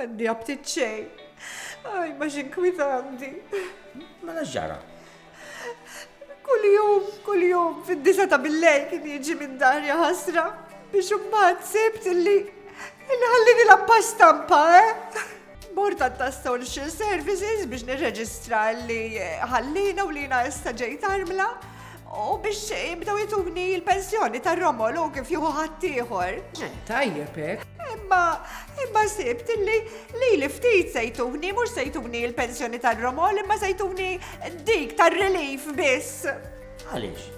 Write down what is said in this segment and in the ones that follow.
Għaddi għabtit xej. Għaj, ma xinkwita għandi. Ma naġġara. Kull jum, kull jum, fid-disa ta' billej kien jiġi minn dar ħasra biex umbat sibt illi il-ħallini la pasta mpa, eh? Bord tas-Social Services biex nirreġistra li ħallina u li jina issa ġejt armla u biex jibdaw jituni l-pensjoni tar-romol u kif juhu ħaddieħor. Eh, tajjeb hekk. Imma imma sibt li li li ftit sejtuni mhux sejtuni l-pensjoni tar-romol imma sejtuni dik tar-relief biss. Għaliex?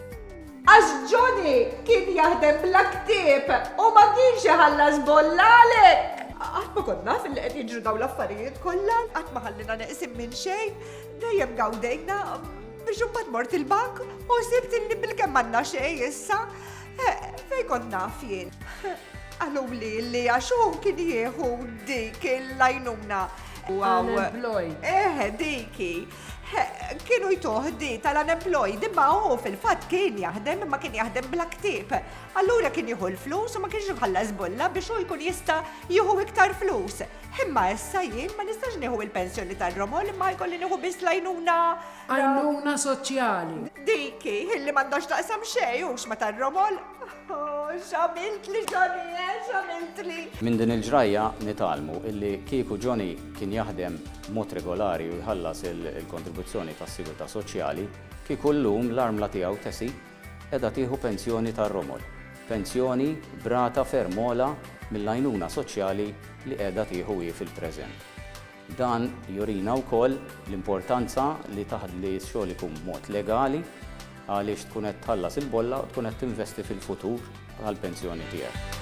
Għax Johnny kien jaħdem bla ktieb u ma kienx iħallas bolla għalhekk! Qatt ma kont naf li qed jiġru dawn l-affarijiet kollha, qatt ma ħallina neqsin minn xejn, dejjem gawdejna biex imbagħad mort il-bank u sibt li bilkemm m'għandna xejn issa. Eh, fejn kont naf jien? Qaluli li għax hu kien jieħu dik il-lajnuna. Wow. Eħe, eh, diki. kienu jtuħ di tal-unemployed imma hu fil-fatt kien jaħdem imma kien jaħdem bla ktib. Allura kien jieħu l-flus u ma kienx jħallas bulla biex hu jkun jista' jieħu iktar flus. Imma issa jien ma nistax nieħu il-pensjoni tal-romol imma jkolli nieħu biss lajnuna. Għajnuna soċjali. Diki, illi m'għandax taqsam xejn hux ma tar-romol. Oh, x'għamiltli Johnny, eh, x'għamiltli! Minn din il-ġrajja nitgħallmu illi kieku Johnny kien jaħdem b'mod regolari u jħallas il-kontribuzzjoni tas-sigurtà soċjali, kieku llum l-armla tiegħu Tessie qiegħda tieħu pensjoni tar-romol, pensjoni b'rata ferm ogħla mill-għajnuna soċjali li qiegħda tieħu hi fil-preżent. Dan jurina wkoll l-importanza li x-xogħol ikun b'mod legali għaliex tkun qed tħallas il-bolla u tkun qed tinvesti fil-futur tal-pensjoni tiegħek.